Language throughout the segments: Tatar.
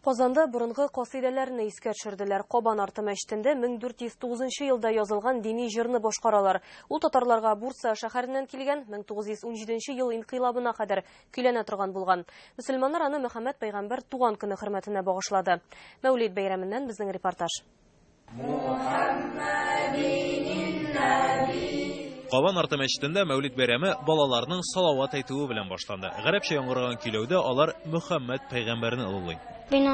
Казанда борынгы касыйдәләрне искә төшерделәр. Кабан арты мәчетендә 1409 елда язылган дини җырны башкаралар. Ул татарларга Бурса шәһәреннән килгән, 1917 ел инкыйлабына кадәр көйләнә торган булган. Мөселманнар аны Мөхәммәд пәйгамбәр туган көне хөрмәтенә багышлады. Мәүлид бәйрәменнән безнең репортаж. Кабан арты мәчетендә Мәүлид бәйрәме балаларның салават әйтүе белән башланды. Гарәпчә яңгыраган көйләүдә алар Мөхәммәд пәйгамбәрне олылый. Мин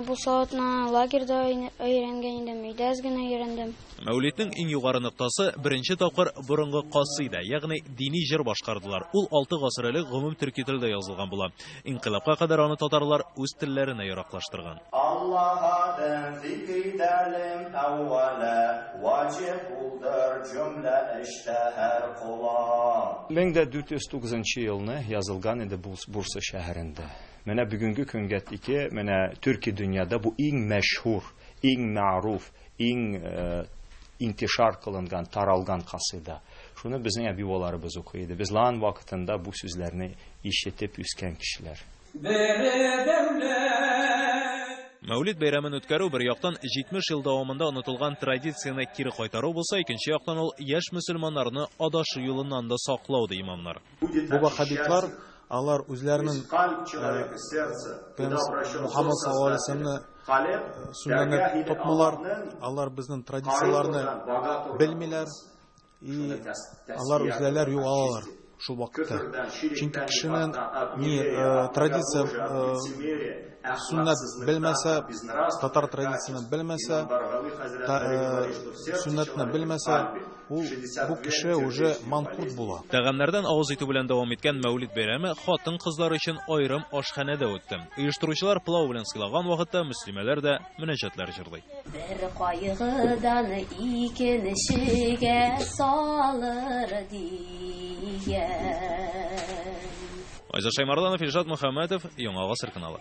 бу салатны лагерьда өйрәнгән идем, өйдә әз генә өйрәндем. Мәүлиднең иң югары ноктасы, беренче тапкыр борынгы касыйдә, ягъни дини җыр башкардылар. Ул алты гасыр элек гомум төрки телдә язылган була. Инкыйлабка кадәр аны татарлар үз телләренә яраклаштырган. Аллаһ адын зикридәлем әүвәлә, ваҗиб улдыр җөмлә эштә һәр кола. Мең дә дүрт йөз тугызынчы елны язылган иде бу Бурса шәһәрендә. Менә бүгенге көнгә тике менә төрки дөньяда бу иң мәшһүр, иң мәгъруф, Иң интишар кылынган, таралган касыйда. Шуны безнең әби-бабаларыбыз укый иде. Без лан вакытында бу сүзләрне ишетеп үскән кешеләр. Бере дәүләт. Мәүлид бәйрәмен үткәрү, бер яктан, 70 ел дәвамында онытылган традицияне кире кайтару булса, икенче яктан, ул яшь мөселманнарны адашу юлыннан да саклау, ди имамнар. Бу ваһһабитлар, алар үзләренең Пәйгамбәр Мөхәммәд саллаллаһу галәйһи ва сәлләмне Сүннәннәр тотмыйлар, алар безнен традицияләрне белмиләр и алар үзләләр югалалар шул вакытта. Чөнки кешенен ни традиция сүннәт белмәсә, татар традицияне белмәсә, та сүннәтне белмәсә, Ул, бу кеше уже манкурт була. Тәгамнәрдән авыз итү белән дәвам иткән Мәүлид бәйрәме хатын-кызлар өчен аерым ашханәдә үтте. Оештыручылар пылау белән сыйлаган вакытта мөслимәләр дә мөнәҗәтләр җырлый. Бер кайгыдан икенчегә салыр дигән. Айза Шәймарданов, Илшат Мөхәммәтов, Яңа гасыр каналы.